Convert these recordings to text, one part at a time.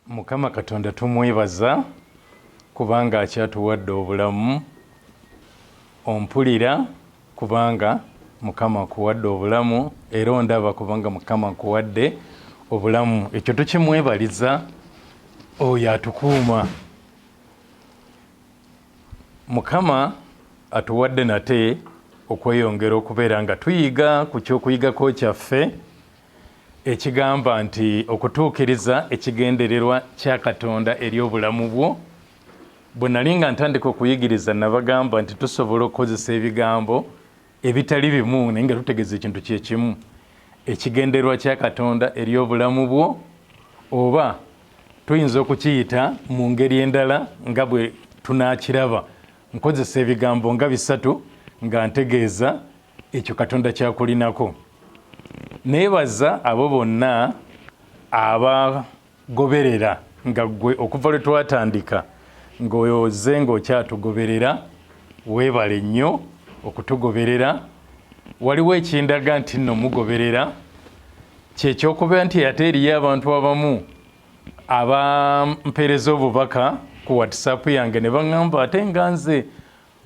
mukama katonda tumwebaza kubanga akyatuwadde obulamu ompulira kubanga mukama nkuwadde obulamu era ondaba kubanga mukama nkuwadde obulamu ekyo tukimwebaliza oyo atukuuma mukama atuwadde nate okweyongera okubeera nga tuyiga ku kyokuyigako kyaffe ekigamba nti okutuukiriza ekigendererwa kya Katonda eri obulamu bwo. Bwe nali nga ntandika okuyigiriza, nnabagamba nti tusobola okukozesa ebigambo ebitali bimu naye nga tutegeeza ekintu kye kimu, ekigendererwa kya Katonda eri obulamu bwo, oba tuyinza okukiyita mu ngeri endala nga bwe tunaakiraba. Nkozesa ebigambo nga bisatu nga ntegeeza ekyo katonda kyakulinako nebaza abo bonna abagoberera nga gwe okuva lwe twatandika ng'oze ng'okyatugoberera weebale nnyo okutugoberera waliwo ekindaga nti nno mugoberera kyekyokuba nti ate eriyo abantu abamu abampeereza obubaka ku whatsapp yange ne baŋamba ate nga nze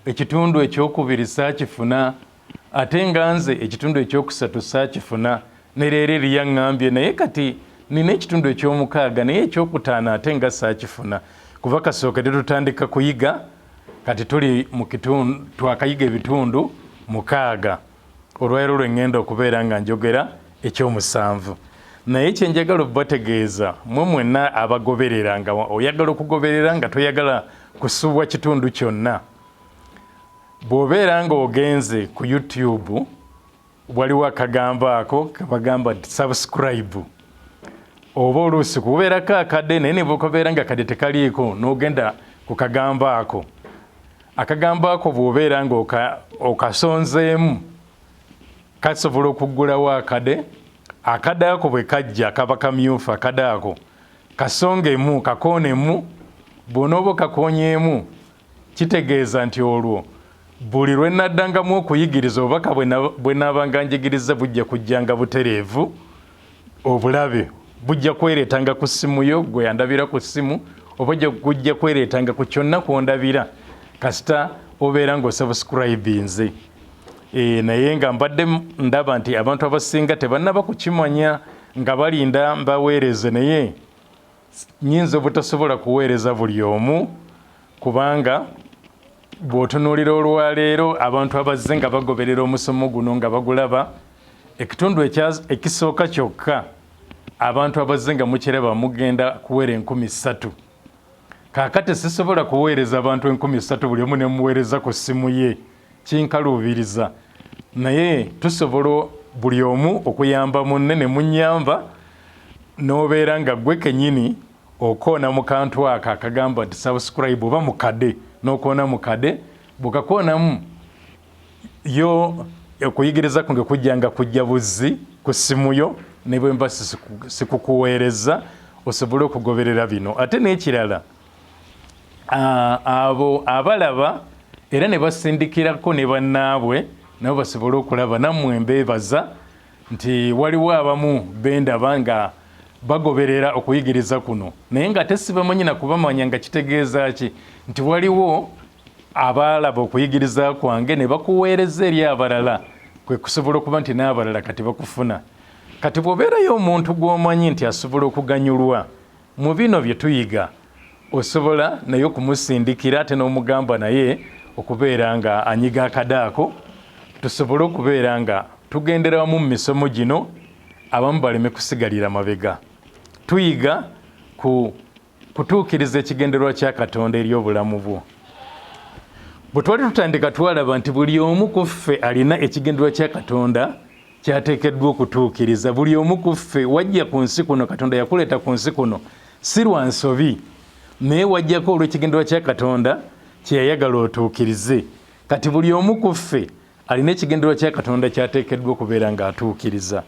ekitundu ekyokubiri saakifuna ate nga nze ekitundu ekyokusatu saakifuna ne leero eri yaŋŋambye naye kati nina ekitundu ekyomukaaga naye ekyokutaano ate nga saakifuna kuva kasookedde tutandika kuyiga kati tuli mu kitundu twakayiga ebitundu mukaaga Olwaleero lwe ŋŋenda okubeera nga njogera eky'omusanvu. Naye kye njagala okubategeeza mmwe mwenna abagoberera, nga oyagala okugoberera nga toyagala kusubwa kitundu kyonna, bw'obeera ng'ogenze ku YouTube, waliwo akagambo ako ke bagamba nti subscribe oba oluusi kubeerako akade naye ne bwekabeera nga kade tekaliiko n'ogenda ku kagambo ako akagambo ako bw'obeera nga okasonzeemu kasobola okuggulawo akade akade ako bwe kajja kaba kamyufu akade ako kasongemu kakoonemu bw'onooba okakoonyeemu kitegeeza nti olwo buli lwe naddangamu okuyigiriza obubaka bwe naabanga njigiriza bujja kujjanga butereevu obulabe bujja kwereetanga ku ssimu yo gwe yandabira ku ssimu oba gujja kwereetanga ku kyonna kwondabira kasita obeera ng'osabusikurayibinze eh, naye nga mbadde ndaba nti abantu abasinga tebannaba kukimanya nga balinda mbaweereze naye nyinza obutasobola kuweereza buli omu kubanga bw'otunuulira olwaleero abantu abazze nga bagoberera omusomo guno nga bagulaba ekitundu ekisooka kyokka abantu abazze nga mukiraba mugenda kuweera enkumi ssatu kaakati sisobola kuweereza abantu enkumi ssatu buli omu ne muweereza ku ssimu ye kinkaluubiriza naye tusobola buli omu okuyamba munne ne munyamba n'obeera nga gwe kenyini okoona mu kantu ako akagamba nti subscribe oba mukade n'okoona mukade bwekakoonamu yo okuyigiriza kunge kujja nga kujja buzzi ku ssimu yo ne bwe mba sikukuweereza osobole okugoberera bino ate n'ekirala abo abalaba era ne basindikirako ne bannaabwe nabo basobole okulaba nammwe mbeebaza nti waliwo abamu bendaba nga bagoberera okuyigiriza kuno naye nga ate sibamanyi nakubamanya nga kitegeeza ki nti waliwo abaalaba okuyigiriza kwange ne bakuweereza eri abalala kwe kusobola okuba nti n'abalala kati bakufuna kati bw'obeerayo omuntu gw'omanyi nti asobola okuganyulwa Mu bino bye tuyiga osobola naye okumusindikira ate n'omugamba naye okubeera nga anyiga akade ako tusobole okubeera nga tugendera wamu mu misomo gino abamu baleme kusigalira mabega. Tuyiga ku kutuukiriza ekigendererwa kya Katonda eri obulamu bwo. Bwe twali tutandika twalaba nti buli omu ku ffe alina ekigendererwa kya Katonda kyateekeddwa okutuukiriza buli omu ku ffe wajja ku nsi kuno katonda yakuleeta ku nsi kuno si lwa nsobi naye wajjako olw'ekigendererwa kya katonda kye yayagala otuukirize kati buli omu ku ffe alina ekigendererwa kya katonda kyateekeddwa okubeera ng'atuukiriza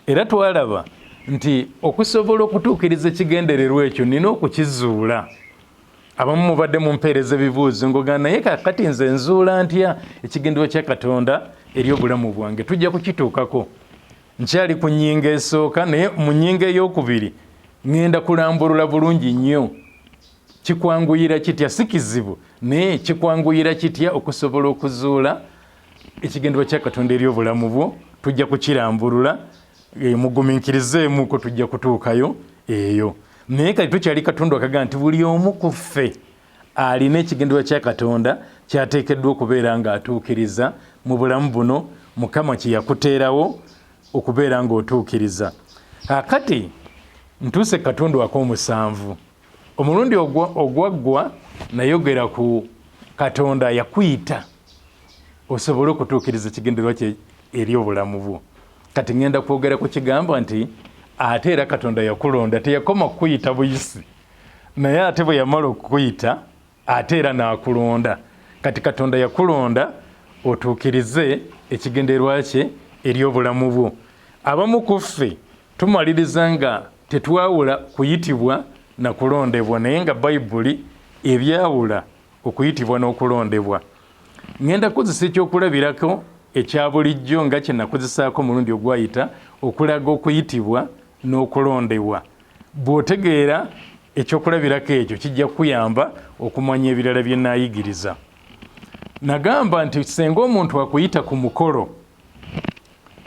era twalaba nti okusobola okutuukiriza ekigendererwa ekyo nina okukizuula abamu mubadde mumpeereza ebibuuzo ngogaa naye kakati nze nzuula ntya ekigenderwa kya katonda eri obulamu bwange tujja kukituukako nkyali ku nyinga esooka naye mu nyinga eyokubiri ŋenda kulambulula bulungi nnyo kikwanguyira kitya si kizibu naye kikwanguyira kitya okusobola okuzuula ekigenderwa kya katonda eri obulamu bwo tujja kukirambulula Eh, muguminkirizeemu ko tujja kutuukayo eyo naye kati tukyali katonda wakaga nti buli omu ku ffe alina ekigendererwa kya katonda kyateekeddwa okubeera ng'atuukiriza mu bulamu buno mukama kye yakuteerawo okubeera ng'otuukiriza akati ntuuse katonda wako omusanvu omulundi ogwaggwa nayogera ku katonda yakuyita osobole okutuukiriza ekigendererwa kye eri obulamu bwo kati ŋŋenda kwogera ku kigambo nti ate era katonda yakulonda teyakoma kukuyita buyisi naye ate bwe yamala okukuyita ate era n'akulonda kati katonda yakulonda otuukirize ekigenderwa kye eri obulamu bwo abamu ku ffe tumaliriza nga tetwawula kuyitibwa na kulondebwa naye nga bayibuli ebyawula okuyitibwa n'okulondebwa ŋŋenda kukozesa ekyokulabirako ekya bulijjo nga kye nakozesaako omulundi ogwayita okulaga okuyitibwa n'okulondebwa bw'otegeera ekyokulabirako ekyo kijja kukuyamba okumanya ebirala bye naayigiriza nagamba nti senga omuntu akuyita ku mukolo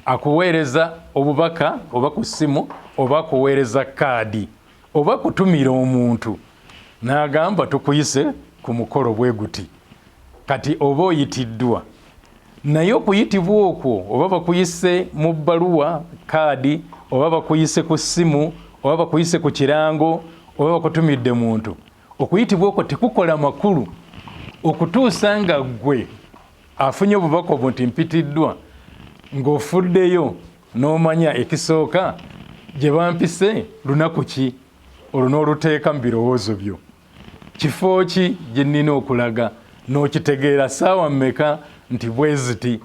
akuweereza obubaka oba ku ssimu oba akuweereza kaadi oba kutumira omuntu n'agamba tukuyise ku mukolo bwe guti kati oba oyitiddwa naye okuyitibwa okwo oba bakuyise mu bbaluwa kaadi oba bakuyise ku ssimu oba bakuyise ku kirango oba bakutumidde muntu okuyitibwa okwo tekukola makulu okutuusa nga ggwe afunye obubaka obwo nti mpitiddwa ng'ofuddeyo n'omanya ekisooka gye bampise lunaku ki olwo n'oluteeka mu birowoozo byo kifo ki gye nnina okulaga n'okitegeera ssaawa mmeka nti bwe ziti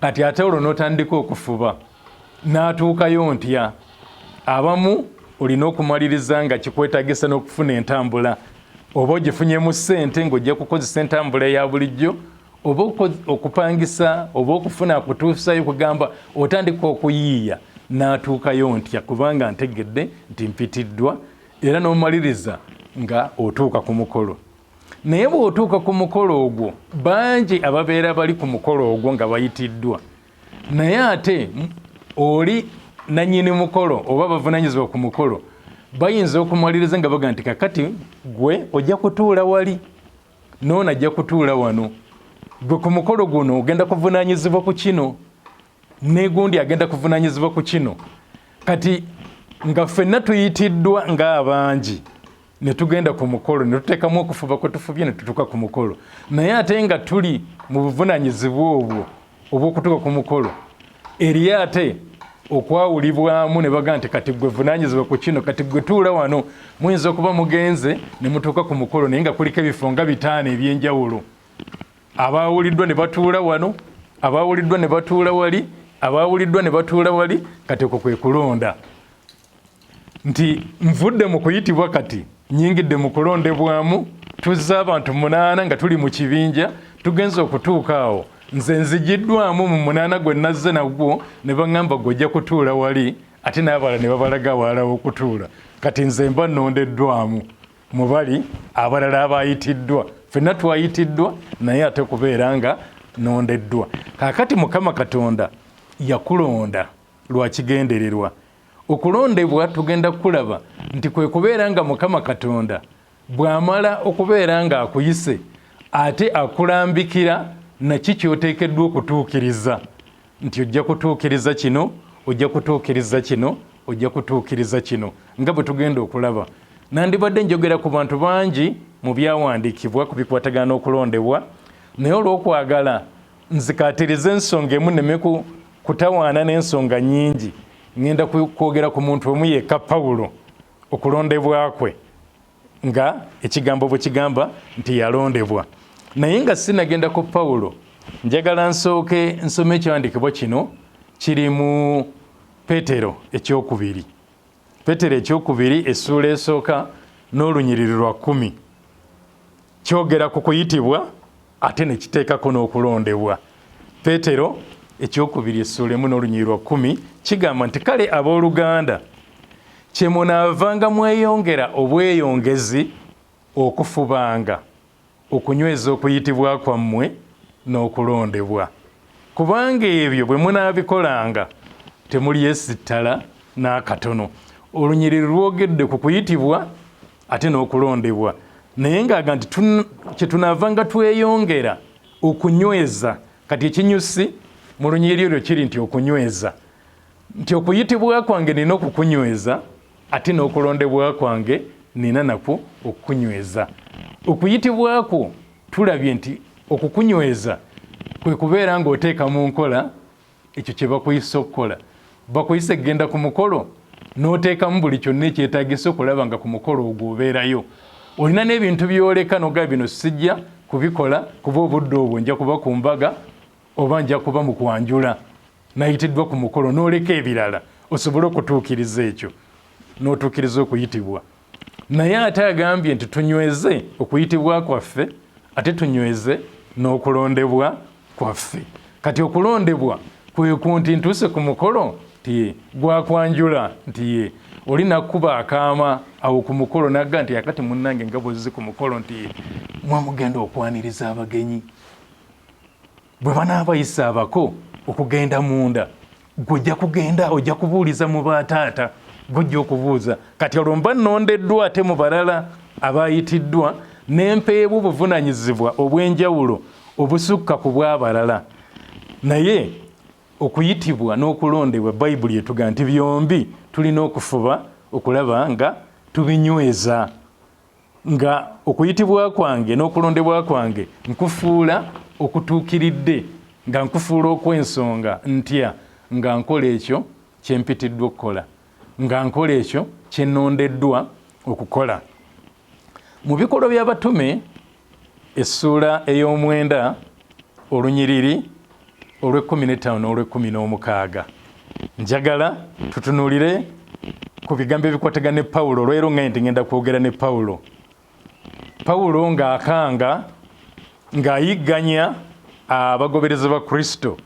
kati ate olwo n'otandika okufuba n'atuukayo ntya abamu olina okumaliriza nga kikwetagisa n'okufuna entambula oba ogifunyemu ssente ng'ojja kukozesa entambula eya bulijjo oba okupangisa oba okufuna akutuusayo kugamba otandika okuyiiya n'atuukayo ntya kubanga ntegedde nti mpitiddwa era n'omaliriza nga otuuka ku mukolo naye bw'otuuka ku mukolo ogwo bangi ababeera bali ku mukolo ogwo nga bayitiddwa naye ate oli nanyini mukolo oba bavunanyizibwa ku mukolo bayinza okumwaliriza nga baga nti kakati gwe ojja kutuula wali noona ajja kutuula wano gwe ku mukolo guno ogenda kuvunanyizibwa ku kino negundi agenda kuvunanyizibwa ku kino kati nga ffenna tuyitiddwa ngaabangi ne tugenda ku mukolo ne tuteekamu okufuba kwe tufubye ne tutuuka ku mukolo naye ate nga tuli mu buvunaanyizibwa obwo obw'okutuuka ku mukolo eri ate okwawulibwamu ne baga nti kati gwe vunaanyizibwa ku kino kati gwe tuula wano muyinza okuba mugenze ne mutuuka ku mukolo naye nga kuliko ebifo nga bitaano eby'enjawulo abaawuliddwa ne batuula wano abaawuliddwa ne batuula wali abaawuliddwa ne batuula wali kati okwo kwe kulonda nti nvudde mu kuyitibwa kati nyingidde mu kulondebwamu tuzza abantu munaana nga tuli mu kibinja tugenza okutuuka awo nze nzigiddwamu mu munaana gwe nazze nagwo ne baŋŋamba gwe ojja kutuula wali ate n'abala ne babalaga awalalawo okutuula kati nze mba nnondeddwamu mu bali abalala abayitiddwa fenna twayitiddwa naye ate kubeera nga nondeddwa kakati mukama katonda yakulonda lwakigendererwa okulondebwa tugenda kulaba nti kwe kubeera nga mukama katonda bw'amala okubeera ng'akuyise ate akulambikira naki kyoteekeddwa okutuukiriza nti ojja kutuukiriza kino ojja kutuukiriza kino ojja kutuukiriza kino nga bwe tugenda okulaba nandibadde njogera ku bantu bangi mu byawandiikibwa ku bikwatagana n'okulondebwa naye olw'okwagala nzikatiriza ensonga emu neme kutawaana n'ensonga nyingi ŋŋenda kwogera ku muntu omu yekka pawulo okulondebwa kwe nga ekigambo bwe kigamba nti yalondebwa naye nga sinagenda ku pawulo njagala nsooke nsoma ekiwandiikibwa kino kiri mu petero ekyokubiri Petero ekyokubiri essuula esooka n'olunyiriri lwa kkumi kyogera ku kuyitibwa ate ne kiteekako n'okulondebwa. Petero ekyokubiri essuula emu n'olunyiriri lwa kkumi kigamba nti kale abooluganda kye munaavanga mweyongera obweyongezi okufubanga okunyweza okuyitibwa kwammwe n'okulondebwa, kubanga ebyo bwe munaabikolanga temulyesittala n'akatono. Olunyiriri lwogedde ku kuyitibwa ate n'okulondebwa naye ng'aga nti kye tunaavanga tweyongera okunyweza. Kati ekinyusi mu lunyiriri olwo kiri nti okunyweza. nti okuyitibwa kwange nina okukunyweza ate n'okulondebwa kwange nina nakwo okukunyweza okuyitibwa kwo tulabye nti okukunyweza kwe kubeera ng'oteeka mu nkola ekyo kye bakuyisa okukola bakuyise kugenda ku mukolo n'oteekamu buli kyonna ekyetagisa okulaba nga ku mukolo ogwo obeerayo olina n'ebintu byoleka noga bino sijja kubikola kuba obudde obwo nja kuba ku mbaga oba nja kuba mu kwanjula nayitiddwa ku mukolo n'oleka ebirala osobole okutuukiriza ekyo n'otuukiriza okuyitibwa naye ate agambye nti tunyweze okuyitibwa kwaffe ate tunyweze n'okulondebwa kwaffe kati okulondebwa kweku nti ntuuse ku mukolo nti gwakwanjula nti ye oli nakuba akaama awo ku mukolo nagga nti akati munnange nga bwezzi ku mukolo nti mwamugenda okwaniriza abagenyi bwe banaabayisa abako okugenda munda gwe ojja kugenda ojja kubuuliza mu bataata gujja okubuuza kati olwo mba nondeddwa ate mu balala abayitiddwa nempeebwa obuvunanyizibwa obw'enjawulo obusukka ku bw'abalala naye okuyitibwa n'okulondebwa bayibuli etuga nti byombi tulina okufuba okulaba nga tubinyweza nga okuyitibwa kwange n'okulondebwa kwange nkufuula okutuukiridde nga nkufuula okw'ensonga ntya nga nkola ekyo kye mpitiddwa okukola nga nkola ekyo kye nnondeddwa okukola mu bikolwa by'abatume essuula ey'omwenda olunyiriri olw'ekkumi n'ettaano n'olw'ekkumi n'omukaaga njagala tutunuulire ku bigambo ebikwataga ne pawulo olwero nga nti ngenda kwogera ne pawulo pawulo ng'akanga ng'ayigganya abagoberezi ba kristo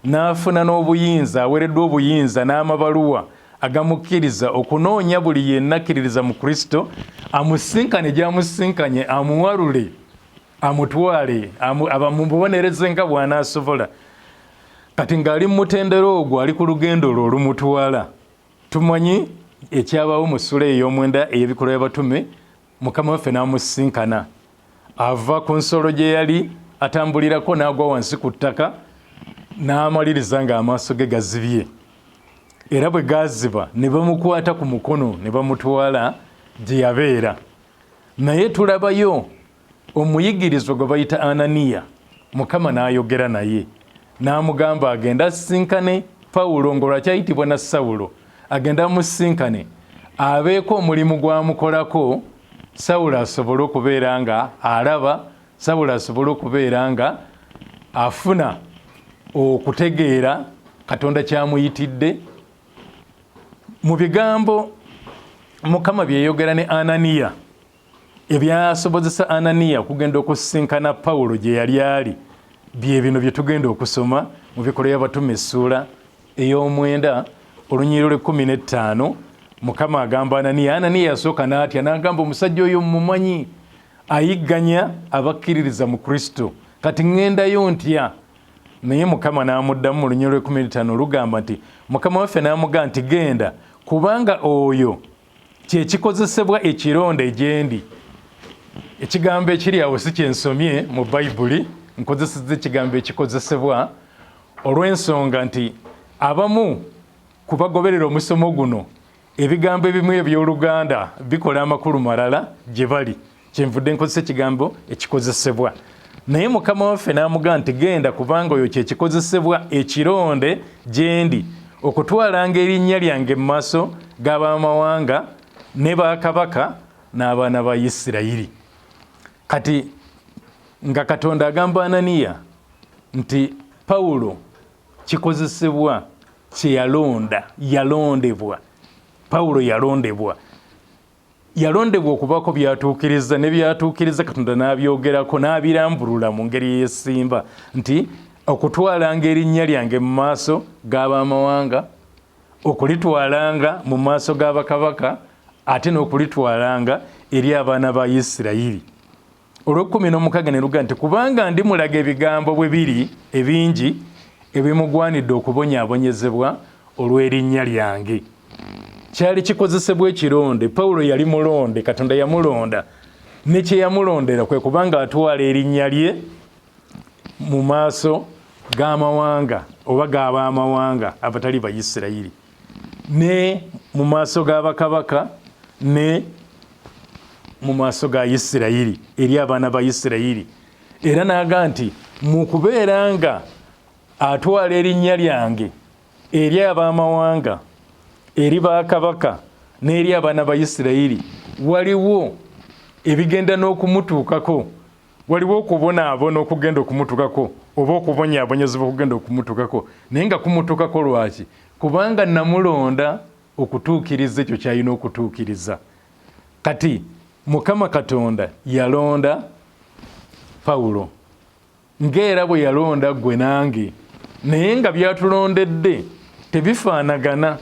n'afuna n'obuyinza aweereddwa obuyinza n'amabaluwa agamukkiriza okunoonya buli yenna akkiririza mu kristo amusinkane gyamusinkanye amuwalule amutwale abamubonereze nga bwanaasobola kati ng'ali mu mutendera ogwo ali ku lugendo lwo olumutwala tumanyi ekyabaawo mu ssula ey'omwenda ey'ebikolwa by'abatume mukama waffe n'amusisinkana ava ku nsolo gye yali atambulirako n'agwa wansi ku ttaka n'amaliriza ng'amaaso ge gazibye era bwe gaaziba ne bamukwata ku mukono ne bamutwala gye yabeera naye tulabayo omuyigirizwa gwe bayita ananiya mukama n'ayogera naye n'amugamba agenda asisinkane pawulo ng'olwakyayitibwa na sawulo agenda amusisinkane abeeko omulimu gwamukolako sawulo asobole okubeera nga alaba sawulo asobole okubeera nga afuna okutegeera katonda kyamuyitidde mu bigambo mukama byeyogera ne ananiya ebyasobozesa ananiya okugenda okusisinkana pawulo gye yali ali bye bino bye tugenda okusoma mu bikola y'abatuma essuula ey'omwenda olunyiriro lw'ekkumi n'ettaano mukama agamba ananiya ananiya yasooka n'atya n'agamba omusajja oyo mumumanyi ayigganya abakkiririza mu kristo kati ŋŋendayo ntya naye mukama n'amuddamu mu lunyiriro lw'ekkumi n'ettaano olugamba nti mukama waffe n'amugaa nti genda kubanga oyo kyekikozesebwa ekironda egyendi ekigambo ekiri awo si kyensomye mu bayibuli nkozeseza ekigambo ekikozesebwa olw'ensonga nti abamu ku bagoberera omusomo guno ebigambo ebimu eby'oluganda bikola amakulu malala gye bali kyenvudde nkozesa ekigambo ekikozesebwa naye mukama waffe n'amugaa nti genda kubanga oyo kyekikozesebwa ekironde gyendi okutwalanga erinnya lyange mu maaso g'abamawanga ne bakabaka n'abaana ba isirayiri kati nga katonda agamba ananiya nti pawulo kikozesebwa kyeyalonda yalondebwa pawulo yalondebwa yalondebwa okubaako byatuukiriza ne byatuukiriza katonda n'abyogerako n'abirambulula mu ngeri eyesimba nti okutwalanga erinnya lyange mu maaso g'abamawanga okulitwalanga mu maaso g'abakabaka ate n'okulitwalanga eri abaana ba isirayiri olw'ekkumi n'omukaga ne luga nti kubanga ndi mulaga ebigambo bwe biri ebingi ebimugwanidde okubonyaabonyezebwa olw'erinnya lyange kyali kikozesebwa ekironde pawulo yali mulonde katonda yamulonda ne kye yamulondera kwe kubanga atwala erinnya lye mu maaso g'amawanga oba g'abaamawanga abatali bayisirayiri ne mu maaso ga bakabaka ne mu maaso ga isirayiri eri abaana ba isirayiri era naaga nti mu kubeera nga atwala erinnya lyange eri ab'amawanga eri bakabaka n'eri abaana ba isirayiri waliwo ebigenda n'okumutuukako waliwo okubonaabona okugenda okumutukako oba okubonyaabonyezebwa okugenda okumutukako naye nga kumutukako lwaki kubanga namulonda okutuukiriza ekyo kyalina okutuukiriza kati mukama katonda yalonda pawulo ngaera bwe yalonda gwe nange naye nga byatulondedde tebifaanagana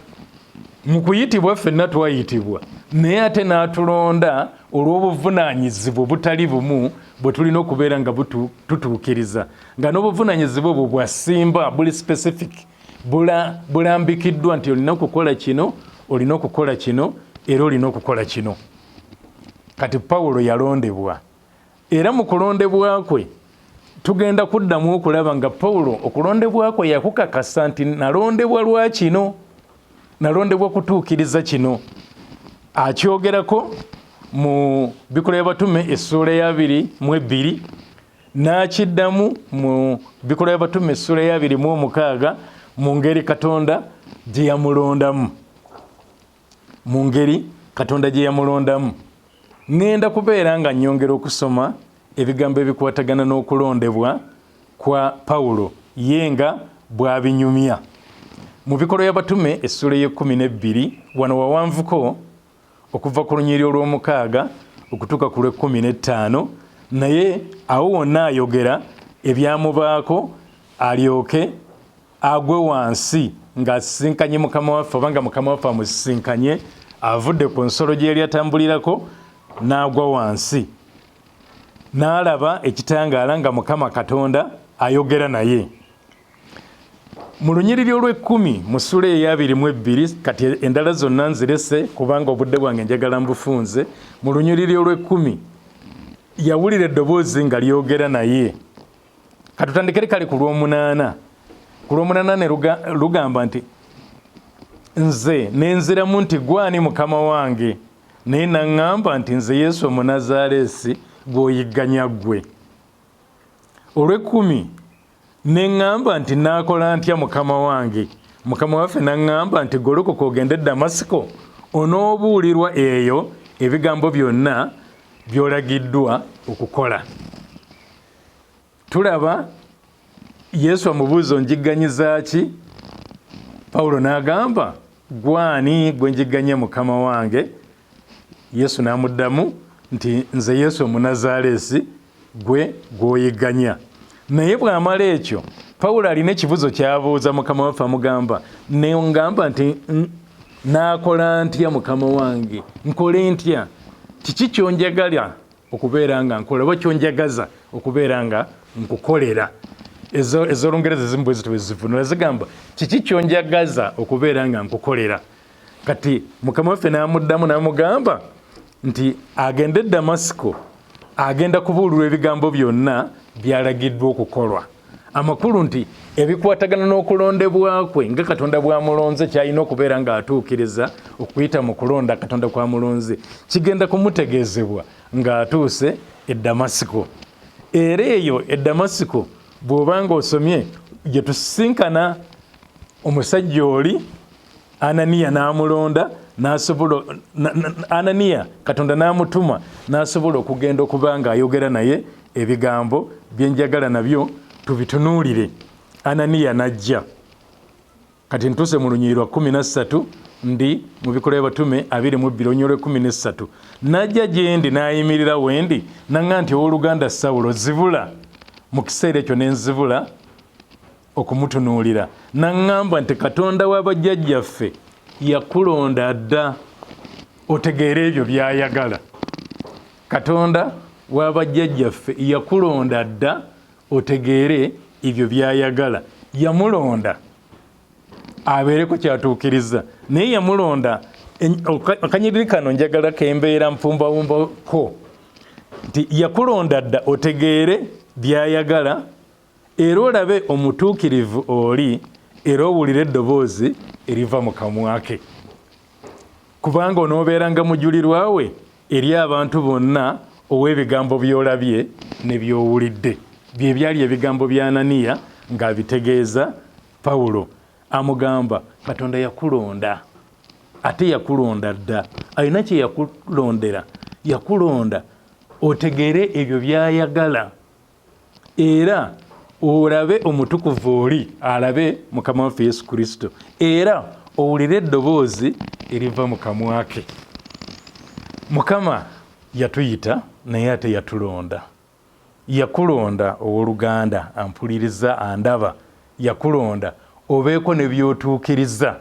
mu kuyitibwa ffenna twayitibwa naye ate n'atulonda olw'obuvunaanyizibwa obutali bumu bwe tulina okubeera nga tutuukiriza nga n'obuvunaanyizibwa obwo bwasimba buli specific bulambikiddwa nti olina okukola kino olina okukola kino era olina okukola kino kati pawulo yalondebwa Era mu kulondebwa kwe tugenda kuddamu okulaba nga Pawulo okulondebwa kwe yakukakasa nti nalondebwa lwa kino, nalondebwa kutuukiriza kino. Akyogerako mu Bikola y'Abatume essuula y'abiri mu ebbiri n'akiddamu mu Bikola y'Abatume essuula y'abiri mu omukaaga mu ngeri Katonda gye yamulondamu. mu ngeri katonda gye yamulondamu ŋŋenda kubeera nga nnyongera okusoma ebigambo ebikwatagana n'okulondebwa kwa pawulo ye nga bw'abinyumya mu bikolwa y'abatume essuula ey'ekkumi n'ebbiri wano wawanvuko okuva ku lunyiri olw'omukaaga okutuuka ku lw'ekkumi n'ettaano naye awo wonna ayogera ebyamubaako alyoke agwe wansi ng'asisinkanye mukama waffe oba nga mukama waffe amusisinkanye avudde ku nsolo gye yali atambulirako n'agwa wansi n'alaba ekitangaala nga mukama katonda ayogera naye mu lunyiriri olw'ekkumi mu sula eyabiri mu ebbiri kati endala zonna nzirese kubanga obudde bwange njagala mbufunze mu lunyiriri olw'ekkumi yawulira eddoboozi nga lyogera naye katutandikere kale ku lwomunaana ku lwomunaana ne lugamba nti nze nenziramu nti gwani mukama wange naye naŋŋamba nti nze yesu omunazaaleesi gwoyigganya ggwe olwekumi ne ŋŋamba nti naakola ntya mukama wange mukama waffe naŋŋamba nti golokoka ogende damasiko onoobuulirwa eyo ebigambo byonna byolagiddwa okukola tulaba yesu amubuuza onjigganyiza ki pawulo n'agamba gwani gwe njigganye mukama wange yesu n'amuddamu nti nze yesu omunazaaleesi gwe gw'oyigganya naye bw'amala ekyo pawulo alina ekibuzo kyabuuza mukama waffe amugamba nengamba nti naakola ntya mukama wange nkole ntya kiki kyonjagala okubeera nga nkola oba kyonjagaza okubeera nga nkukolera ezolungereza ezimu bwe zitwe zivunula zigamba kiki kyonjagaza okubeera nga nkukolera kati mukama waffe n'amuddamu n'amugamba nti agende e damasiko agenda kubuulirwa ebigambo byonna byalagiddwa okukolwa amakulu nti ebikwatagana n'okulondebwa kwe nga katonda bwamulonze kyalina okubeera ng'atuukiriza okuyita mu kulonda katonda kwamulonze kigenda kumutegeezebwa ng'atuuse e damasiko era eyo e damasiko bw'oba ng'osomye gye tusisinkana omusajja oli ananiya n'amulonda nasobola ananiya katonda n'amutuma n'asobola okugenda okuba nga ayogera naye ebigambo byenjagala nabyo tubitunuulire ananiya n'ajja kati ntuuse mu lunyiri lwa kumi nassatu ndi mu bikola byabatume abiri mu bbiri onyolo ekumi nessatu najja gyendi nayimirira wendi naga nti owoluganda sawulo zibula mu kiseera ekyo nenzibula okumutunuulira naŋŋamba nti katonda wa bajjajjaffe yakulonda dda otegeera ebyo byayagala katonda wa bajjajjaffe yakulonda dda otegeere ebyo byayagala yamulonda abeereko kyatuukiriza naye yamulonda akanyiriri kano njagala kembeera mpumbawumbako nti yakulonda dda otegeere byayagala Era olabe omutuukirivu oli, era owulire eddoboozi eriva mu kamwa ke, kubanga onoobeeranga mujulirwa we eri abantu bonna ow'ebigambo by'olabye ne by'owulidde. Bye byali ebigambo bya Ananiya ng'abitegeeza Pawulo, amugamba, Katonda yakulonda, ate yakulonda dda. Alina kye yakulondera. Yakulonda otegeere ebyo by'ayagala. era olabe omutukuvu oli alabe mukama waffe yesu kristo era owulire eddoboozi eriva mu kamwa ke mukama yatuyita naye ate yatulonda yakulonda owoluganda ampuliriza andaba yakulonda obeeko ne byotuukiriza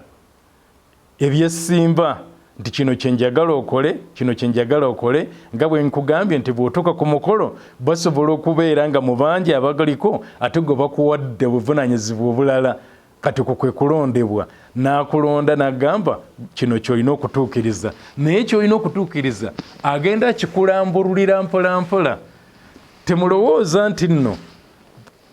ebyessimba nti kino kyenjagala okole kino kyenjagala okole nga bwenkugambye nti bwotuuka ku mukolo basobola okubeera nga mubangi abagaliko ate gwe bakuwadde obuvunanyizibwa obulala kati ku kwe kulondebwa n'akulonda n'agamba kino kyolina okutuukiriza naye kyolina okutuukiriza agenda akikulambululira mpolampola temulowooza nti nno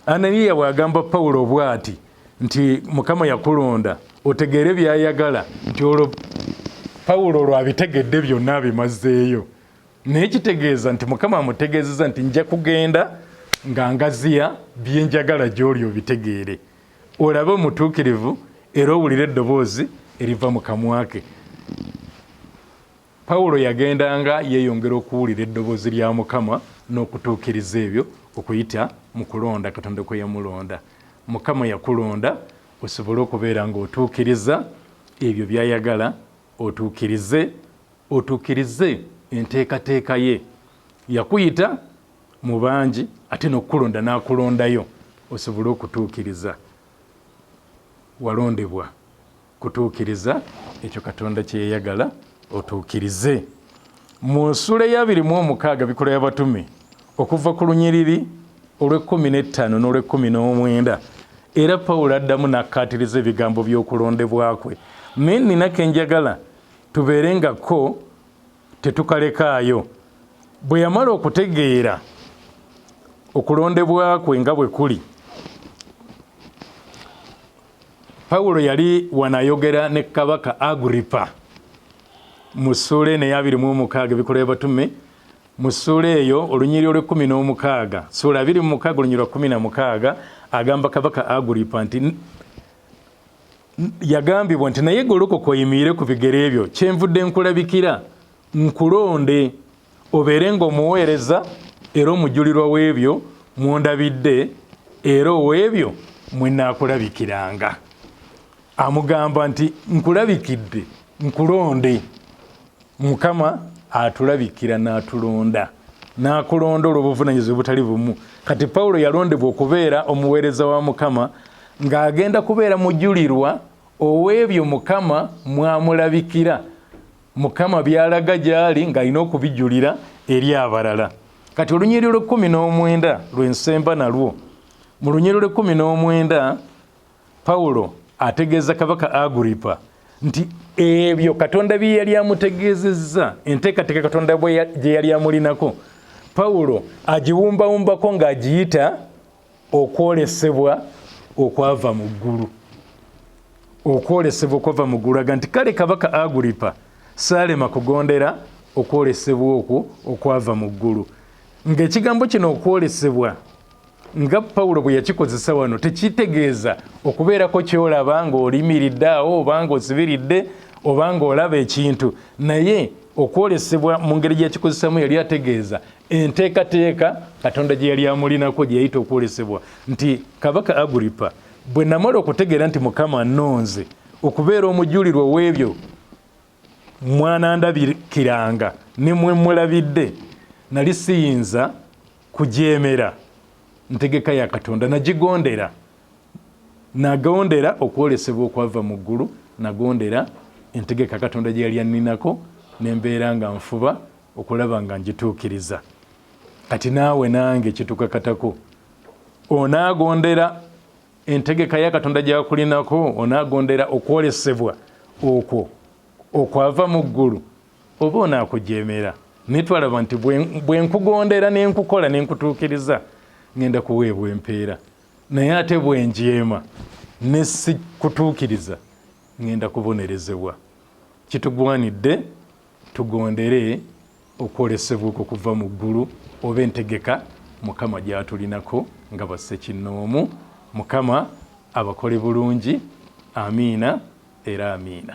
Ananiya bw'agamba Pawulo bw'ati nti Mukama yakulonda otegeere by'ayagala, nti olwo Pawulo olwo abitegedde byonna abimazeeyo. Naye kitegeeza nti Mukama amutegeezeza nti nja kugenda nga ngaziya bye njagala gy'oli obitegeere, olabe omutuukirivu era owulire eddoboozi eriva mu kamwa ke. Pawulo yagendanga yeeyongera okuwulira eddoboozi lya Mukama n'okutuukiriza ebyo okuyita mu kulonda Katonda kwe yamulonda. Mukama yakulonda osobole okubeera ng'otuukiriza ebyo by'ayagala otuukirize, otuukirize enteekateeka ye. Yakuyita mu bangi ate n'okukulonda n'akulondayo osobole okutuukiriza. Walondebwa. kutuukiriza ekyo katonda kyeyayagala otuukirize mu nsula eyabiri mu omukaaga bikola yabatume okuva ku lunyiriri olw'ekkumi n'ettaano n'olw'ekkumi n'omwenda era pawulo addamu n'akkaatiriza ebigambo by'okulondebwa kwe naye nina ke njagala tubeere nga ko tetukalekaayo bwe yamala okutegeera okulondebwa kwe nga bwe kuli Pawulo yali wanayogera ne kabaka Agripa mu ssuula eno eyabiri mu omukaaga ebikola ebatume mu ssuula eyo olunyiri olw'ekkumi n'omukaaga ssuula abiri mu mukaaga olunyiri lwa kkumi na mukaaga agamba kabaka Agripa nti yagambibwa nti naye golokoka oyimiire ku bigere byo kyenvudde nkulabikira nkulonde obeere ng'omuweereza era omujulirwa w'ebyo mw'ondabidde era ow'ebyo mwe nnaakulabikiranga amugamba nti nkulabikidde nkulonde mukama atulabikira n'atulonda n'akulonda olw'obuvunanyizibwa obutali bumu kati pawulo yalondebwa okubeera omuweereza wa mukama ng'agenda kubeera mujulirwa ow'ebyo mukama mwamulabikira mukama byalaga gyali ng'alina okubijulira eri abalala kati olunyiriri lw'ekkumi n'omwenda lwensemba nalwo mu lunyiriri lw'ekkumi n'omwenda pawulo ategeeza kabaka aguripa nti ebyo katonda bye yali amutegeezezza enteekateeka katonda gye yali amulinako pawulo agiwumbawumbako ng'agiyita okwolesebwa okwava mu ggulu okwolesebwa okwava mu ggulu aga nti kale kabaka aguripa saalema kugondera okwolesebwa okwo okwava mu ggulu ng'ekigambo kino okwolesebwa nga pawulo bwe yakikozesa wano tekitegeeza okubeerako kyolaba ng'olimiridde awo oba ng'osibiridde oba ng'olaba ekintu naye okwolesebwa mu ngeri gyakikozesaamu yali ategeeza enteekateeka katonda gye yali amulinako gye yayita okwolesebwa nti kabaka aguripa bwe namala okutegeera nti mukama anonze okubeera omujulirwa ow'ebyo mwanandabikiranga ne mwe mulabidde nali siyinza kujeemera ntegeka ya katonda nagigondera nagondera okwolesebwa okwava mu ggulu nagondera entegeka katonda gye yali anninako ne mbeera nga nfuba okulaba nga njituukiriza kati naawe nange kitukakatako onaagondera entegeka ya katonda gyakulinako onaagondera okwolesebwa okwo okwava mu ggulu oba onaakujeemera naye twalaba nti bwe nkugondera ne nkukola ne nkutuukiriza ŋenda kuweebwa empeera naye ate bwe njeema ne sikutuukiriza ŋenda kubonerezebwa kitugwanidde Tugondere okwolesebwa okwo kuva mu ggulu oba entegeka Mukama gy'atulinako nga bassekinnoomu. Mukama abakole bulungi. Amiina era Amiina.